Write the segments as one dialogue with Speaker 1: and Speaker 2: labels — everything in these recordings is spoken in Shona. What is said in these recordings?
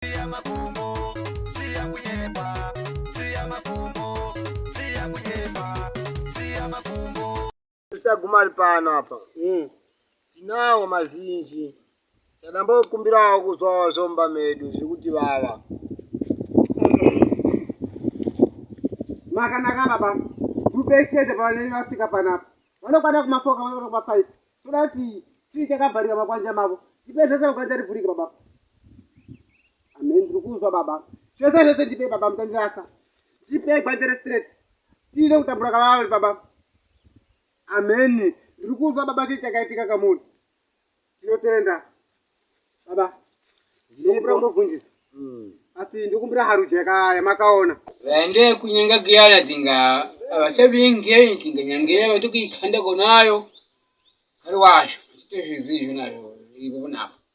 Speaker 1: siya makumbo siya kunyepa siya makumbo siya kunyepa siya makumbo taguma ari pano apa mm. tinawo mazinji tadambokumbirawo kuzwawo zvomba medu zviri kuti vava makanaka baba ndubesede pavanei vasvika panapa vanokwana kumafoka vanokwana kumafaifi toda kuti chii chakabharika makwanja mavo ipedzese makwanja ribhurika baba Amen. Ndiri kuzwa baba. Zvese zvese ndipe baba mutandirasa. Ndipe gwandere straight. Tine kutambura kavavali baba. Amen. Ndiri kuzwa baba chii chakaitika kamuri. Tinotenda. Baba. Ndikumbira kumbobvunjisa. Mm. Asi ndikumbira haruja yamakaona. Vaende kunyenga kuyana tinga avasavinge tinga nyangera vatokuikanda konayo. Ari wacho. Chitezvizi izvo nazvo. Ipo kunapa.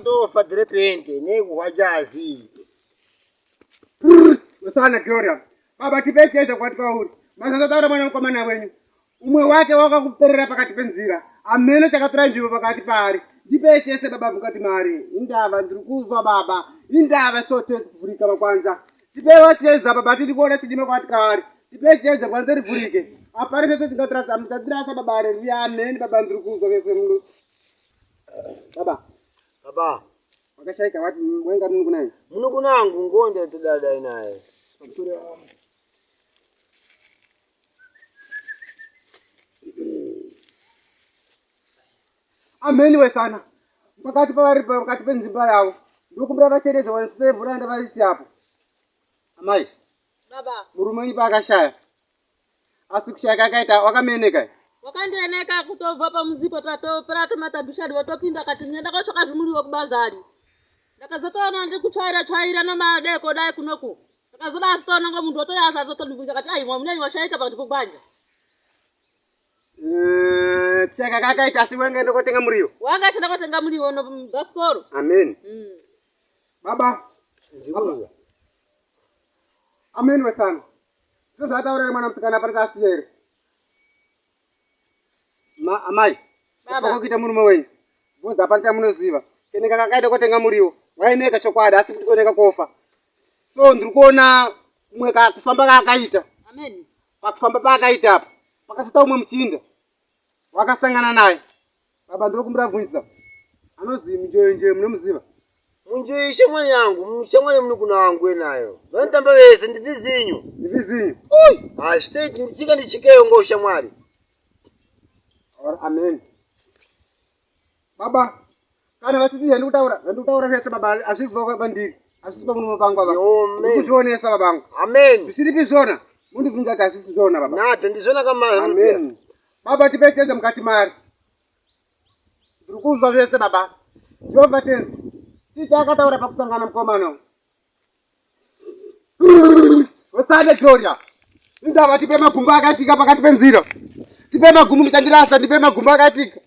Speaker 1: Ndofa dire pente nekuhwajazi. Usana Gloria. Baba tipecheza kwati kwauri. Mazata taura mwana mkomana wenyu. Umwe wake wakakuperera pakati penzira. Amene chakatora nzvimbo pakati paari. Ndipechese baba mukati mari. Indava ndiri kuzwa baba. Indava sote kuvhurika makwanza. Tipewa cheza baba tiri kuona chidima kwati kwaari. Tipecheza kwanza rivhurike. Apari pese tingatirasa. Musatirasa baba revia. Amen baba ndiri kuzwa vese muno. Baba. Baba. Makashaika wati wenga munhu kunaye. Munhu kunangu ngonde tidada inaye. Kutura. Ameni wesana. Pakati pavari pakati penzimba yavo. Ndokumbira vachereze wanise mvura ndavaisi apo. Amai. Baba. Murume wenyu paakashaya. asi kushaya kakaita wakameneka wakandieneka kutobva pamuzipo tatopera tomatabishadi watopinda kati nyenda kwatsvaka zvimuri wekubazari ndakazotoona ndi kutsvaira tsvaira nomadeko dai kunoku ndakazoda asitoona ngo munhu watoya asazotondibvunza kati aimwa munei wachaita pakati pokwanja eh, chaka kakaita asi wenge ndokotenga muriwo wanga chindakotenga muriwo no basikoro amen mm. Baba. Baba. Amen wesana. Ndizvo zvataurira mwana musikana pari kasiya here? Ma amai. Baba. Kuita murume wenyu. Bhozi hapana chamunoziva. Keneka kakaita kotenga muriwo. Waineka chokwadi asi kuti koneka kofa. So ndiri kuona kumwe kufamba kaakaita. Amen. Pakufamba paakaita apa. Pakasata umwe muchinda. Wakasangana naye. Baba ndiri kumbira bvunza. Anozi mjoyo njoyo munomuziva. Munjoyi shamwari yangu mushamwari muni kuna wangu wenayo vanotamba vese ndivizinyu ndivizinyu oi hashtag ndichika ndichikeyo ngo shamwari or amen baba kana vasisi zvandi kutaura zvandi kutaura zvese baba hazvisi vava kwandiri hazvisi pamunomo pangu ava kuzvionesa babangu amen zvisiripi zvona mundibvunza kuti hazvisi zvona baba nada ndizvona kamara amen baba tipesese mukati mari Ndiri kunzwa zvese baba. Jehova tenzi. Tita akataura pakusangana mukomano. Wesande Gloria. Indava tipe magumbo akaitika pakati penzira. Tipe magumbo muchandirasa ndipe magumbo akaitika.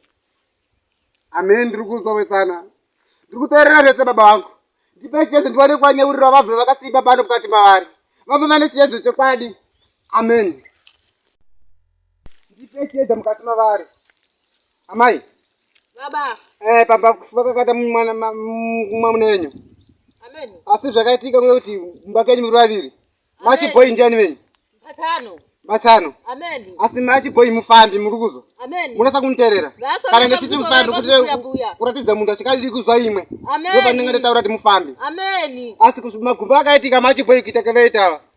Speaker 1: Amen ndiri kunzwa wesana. Ndiri kuteerera zvese baba wangu. Ndipe chiedze ndiwane kwanyeurira vabve vakasimba pano mukati mavari. Vabve vane chiedze chekwadi. Amen. Ndipe chiedza mukati mavari. Amai. Baba. Eh, pamba kufuka kakata mwana mwana wenyu. Amen. Asi zvakaitika kuye kuti mumba kenyu muri vaviri. Machi boy ndiani venyu? Mbatano. Mbatano. Amen. Asi machi boy mufambi muri kuzwa. Amen. Munasa kuniterera. Kana ndechiti mufambi kuti kuratidza munhu achikadiri kuzwa imwe. Amen. Ndipo pandinga ndataura kuti mufambi. Amen. Asi magumbo akaitika machi boy kuita kevetawa.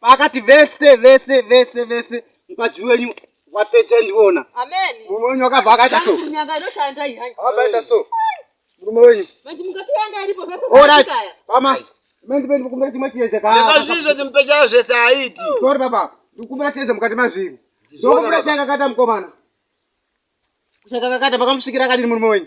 Speaker 1: paakati vese vese vese vese mukadzi wenyu wapedza ndiona murume wenyu wakabva akaita so akaita so murume wenyu orit pama mendipendi kukumbira chimwe chiedza kaazvizvo chimupechayo zvese aiti sori baba ndikukumbira chiedza mukati mazviri ndokumbira chakakata mukomana kuchakakata makamusvikira akadini murume wenyu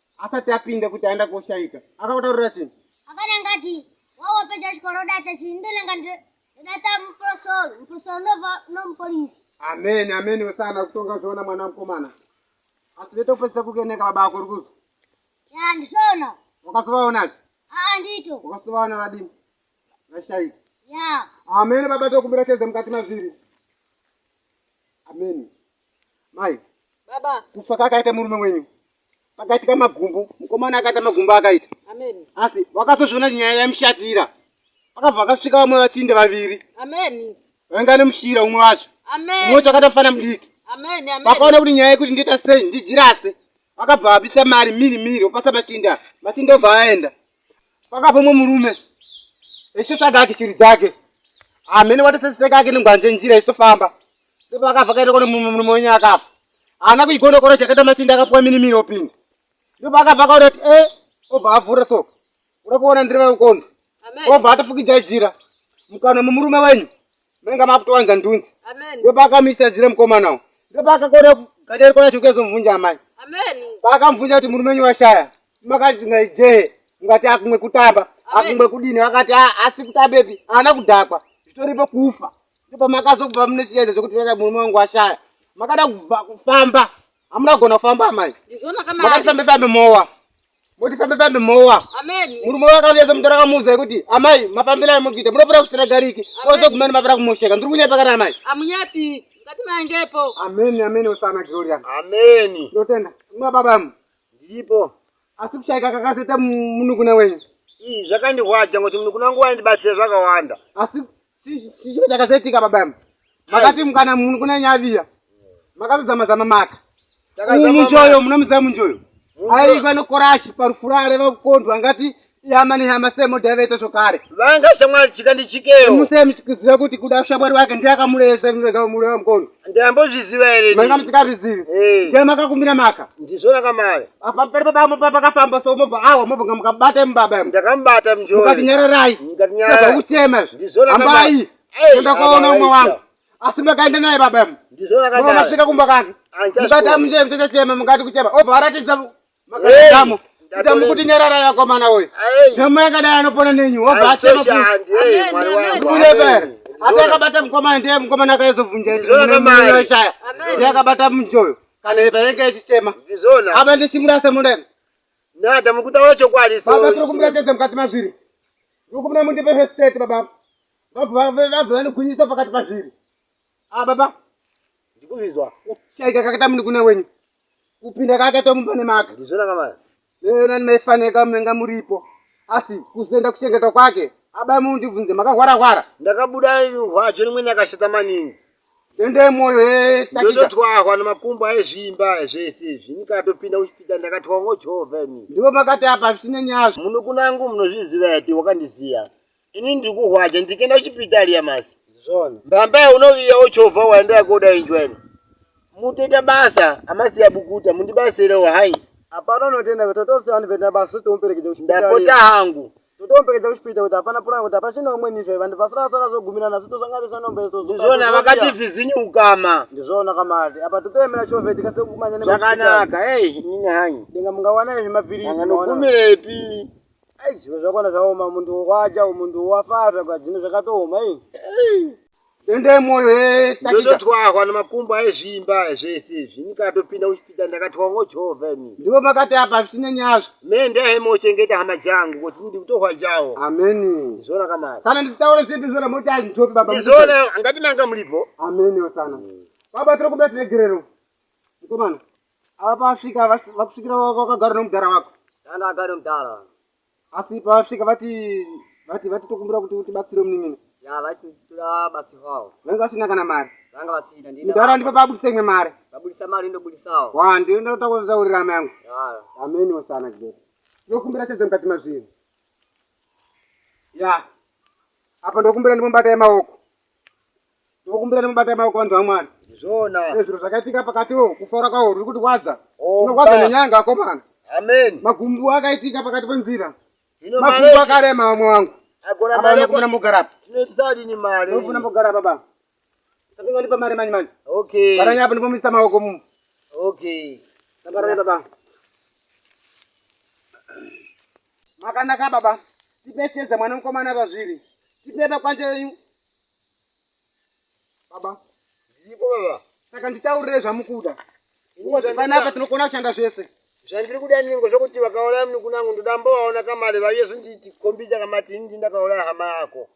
Speaker 1: Asati apinda kuti aenda koshaika. Akakutaurira chii? Akana ngati wawa peja chikoro data chii ndona ngati data muprosol muprosol nova no police. Amen amen wesana kutonga zvoona mwana mkomana. Asi veto pesa kukeneka baba ako rukuzo. Ya ndisona. Wakasovaona chi? Ah ndito. Wakasovaona vadini? Vashaika. Ya. Amen baba tokumbira cheze mukati mazviri. Amen. Mai. Baba. Kufa kakaita murume wenyu. Pakaitika magumbu, mukomana akaita magumbu akaita. Amen. Asi wakazozviona nyaya yamushatira. Pakabva vakasvika vamwe vachinde vaviri. Amen. Vainga nemushira umwe wacho. Amen. Umwe wacho akaita mfana mudiki. Amen. Amen. Vakaona kuti nyaya yekuti ndiita sei ndijirase. Vakabva vabisa mari miri miri vopasa machinda. Machinda obva aenda. Pakabva umwe murume. Echitotsvaga ake shiri dzake. Amene watoseseka ake nengwanje njira echitofamba. ndipo akafa kaita kone murume wenyu akafa haana kuigonokora chakaita machinda akapuwa mini miri opinda ndipo akafa kaona kuti e obva avhura so uda kuona ndiri vakondo obva atofukidza jira mukana mumurume wenyu mainga makutowanza ndunzi ndipo akamisa jira mukomanawo ndipo akakona gaderi kona chikuezomubvunja amai paakamubvunja kuti murume wenyu washaya makati ngaijee ungati akumwe kutamba akumwe kudini akati asi kutambepi haana kudhakwa zvitoripo kufa ndipo makazobva munosiyaidza zvekuti veka murume wangu ashaya makada kubva kufamba hamuna kugona kufamba amai makati fambe fambe mowa moti fambe fambe mowa murume wakauyeza mutora kamuza yekuti amai mafambira amugita munopera kusira gariki ozogumani mapera kumosheka ndiri kunyepa kana amai amunyepi ngati maingepo ameni ameni usana gloria ameni ndotenda mababa mu Ndiripo. Asi kushaika kakazoita munukuna wenyu. Ii zvakandirwadza ngokuti munukuna wangu waindibatsira zvakawanda. Asi chicho chakazoitika baba yambo. Makati mukana munukuna wenyu aviya. Makazozama zama maka. Umu njoyo munomuziva munjoyo. Aiva nokorashi parufura areva kukondwa angati Yama ni hama semo devete sokare. Vanga shamwari chika ndi chikeyo. Muse mchikiziva kuti kuda shamwari wake ndiye akamuleza mwe ga mure wa mkono. Ndiye ambozviziva here? Manga msikazvizivi. Hey. Eh. Ndiye makakumbira maka. Ndizvona kamari. Apa pari baba mo papa kafamba so mo awa mo banga mukabata mbaba. Ndakambata mjori. Mukatinyararai. Ndakanyara. Saka kuchema. Ndizvona kamari. Ambai. Hey. Ndakaona umwe wangu. Asi makaenda naye baba. Ndizvona kamari. Mukasvika kumba kake. Ndibata mjori mchachema mukati kuchema. Obva aratidza Makadamo. Damu kuti nyarara yako mana we. Damu yaka dai anopona nenyu. Wabva acha mapu. Kule ber. Ata akabata mkoma ndiye mkoma naka yezo vunja. Ndizona mai. Ndiye akabata mjoyo. Kana yepa yake yachisema. Ndizona. Aba ndi simura semure. Na damu kuta wacho kwali so. Baba tro kumra tete mkati maziri. Rukumna mundi pe state baba. Baba baba baba ni kunyisa pakati maziri. Ah baba. Ndikuzvizwa. Shaika kakata muni kune wenyu. Kupinda kakata mumba nemaka. Ndizvona kamana. Leo nani maifaneka mnenga muripo. Asi kuzenda kuchengeta kwake. Aba mu ndivunze makahwara hwara. Ndakabuda rwajo rimwe nakashata maningi. Tende moyo he sakita. Ndotwa kwa nemakumbo aizvimba zvese zvinika topinda uchipita ndakatwa ngo Jehova ni. Ndiwo makati apa zvine nyazi. Muno kunangu munozviziva yati wakandisiya. ini ndiri kuhwaja ndikenda kuchipitari yamasi zvona mbambaye unoviya ochovha waya ndoyakoda injwa ino mutoita basa amasiya bukuta mundibatsirewo hai hapana unotenda kuti totosiyana venda basi tomuperekedza kuchipitari ndapota hangu totomuperekedza kuchipita kuti hapana puranga kuti hapachina umweni izvo vanhu vasarasara zogumirana asi tosanganisa nombe isu tozopa- ndizvona vakati tozopiwa. vhizinyi ukama ndizvona kamari apa totoyemera chove tikasekumanya zvakanaka ei nini hanyi denga mungawana izvi mapiritsi danga maona. nokumirepi Ai zvimwe zvakona zvaoma mundu wokwacha mundu wafaa zvakwa zvino zvakatooma i. Tende moyo ye sakita. Ndototwahwa nemakumbo aizvimba zvese izvi ndikatopinda kuchipita ndakatwa ngojova ini. Ndivo makati apa zvisine nyazvo. Me ndaive mochengeta hama dzangu kuti ndidi kutohwa jawo. Amen. Ndizvona kamari. Kana nditaure zvinhu ndizvona moti aizvitopi baba. Ndizvona ngati manga muripo. Amen osana. Baba tiri kumbira tiregerero. Mkomana, ava pavasvika vakusvikira vakagara nomudhara wako? Danda agara nomudhara. Asi pavasvika vati vati vati tokumbira kuti utibatsire munin'ina. Ya vati toda basi hwawo. Vanga vasina kana mari. Vanga vasina ndina. Mudhara ndipo pabudisa imwe mari. Pabudisa mari ndobudisawo. Wa ndiyo ndoda kutaurira amai yangu. Ya. Ameni wasana kidete. Ndokumbira chedze mukati mazviri. Ya. Apa ndokumbira ndimombata yemaoko. Tinokumbira nemubata maoko vanhu vaMwari. Zvona. Ezviro zvakaitika pakati wo kufara kwawo ruri kuti wadza. Oh, Tinokwadza nenyanga akomana. Amen. Magumbu akaitika pakati penzira. Ino magumbu akarema vamwe wangu. Agora mari yako. Muna mugara. Tinoitisa dini mari. Muna mugara baba. Sapinga ndipa mari mani mani. Okay. Baranya hapo ndipo misa maoko mu. Okay. Nabaranya baba. Makanaka baba, tibetsedze mwana mukomana pazviri. Tipeba kwanje yenyu. Baba, Ndipo baba. saka nditaurire zvamukuda. Nguva dzandinoda- Panapa tinokona kushanda zvese. Zvandiri kuda ningo zvokuti vakauraya munukunangu ndoda mbovaona kamari vaiye zvonditi kombija kamati inini ndakauraya hama yako.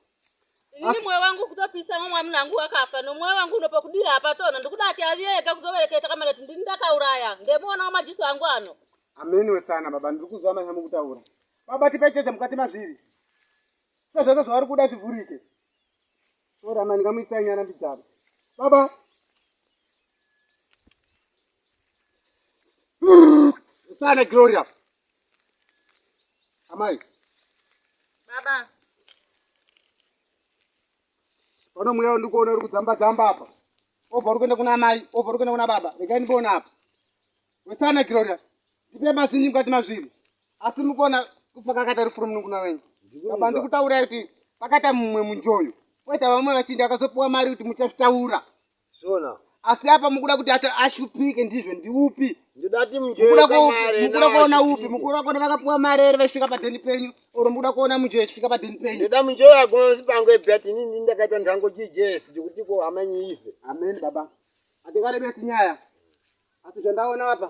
Speaker 1: inini mwoyo wangu kutopisa mwe mwamuna wangu wakafa nomwoyo wangu unopa kudira hapatona ndikuda ati aviye ega kuzovereketa kamana kuti ndini ndakauraya ndemuona wamajiso angu ano Ameniwe sana baba ndiri kuziva manya mukutaura. Baba tipe chete mukati mazviri. Sasa zvese zvavari kuda zvivhurike. Sorry amai ndingamuitisa nyana mbidzana. Baba sana Gloria. Amai. Baba. Pano mweya uri kuona uri kudzamba dzamba apa. Obva uri kuenda kuna mai, obva uri kuenda kuna baba. Regai ndiboona apa. Wesana Gloria. Ndipe mazinji mukati mazviri. Asi mukuona kupakakata rufuru munukuna wenyu. Baba ndikutaura kuti pakata mumwe munjoyo. Kwete vamwe vachinda vakazopuwa mari kuti muchazvitaura. Sona. asi apa mukuda kuti ata- ashupike ndizvo ndiupi Ndoda kuti mukuda mujere ko- kamare. mukuda kuona upi mukuda kuona vakapiwa mari here vachisvika padheni penyu or mukuda kuona mujoyo achisvika padheni penyu Ndoda mujere aguma musipango ebet ini ndini ndakaita ndango GJS zvekuti ko hamanyi ife. amen baba hatikarebesi nyaya asi zvandaona apa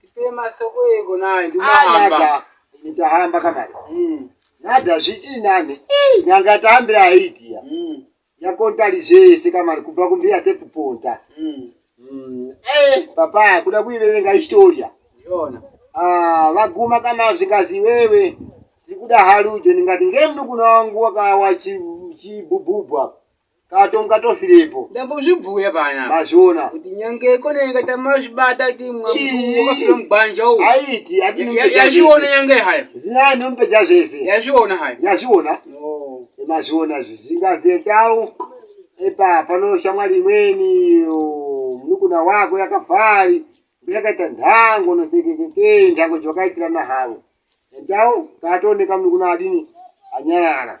Speaker 1: Tipei masoko ego naye ndinohamba. Ah, Nditahamba kamari. Mm. Nada zvichii nani? Nyanga tambe aidiya. Mm. Yakontari zvese kamari kubva kumbiya tekuponta. Mm. Mm. Eh, papa kuda kuiverenga historia. Yona. Ah, vaguma kana zvikazi wewe. Ndikuda harujo ndingati ngemnukuna wangu wakawa chibububwa. Chi Kato mukatofirepo. Ndambozvibhuya pana. Mazviona. Kuti nyange kone nyanga tamazvibata kuti mwamutu wakafira mugwanja uwo. Aiti atinumpeja zvese. Yazviona nyange hayo. Zina numpeja zvese. Yazviona hayo. Yazviona. Oh. Mazviona zvi. Zvingazetawo. Epa pano shamwari imweni munukuna wako yakafari. Yakaita ndango nosekekeke ndango jwakaitirana havo. Entawo kato nekamnukuna adini anyarara.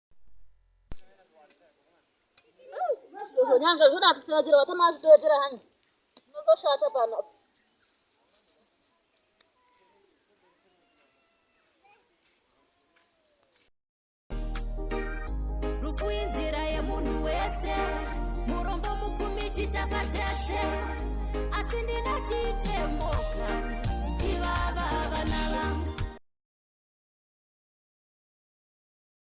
Speaker 1: nyanga zvona atitirajira vatama azvitoyetera hani tinozoshata pano rufu inzira yemunhu wese murombo mupfumi chichapa chese asi ndina chichemoka ivava vana vangu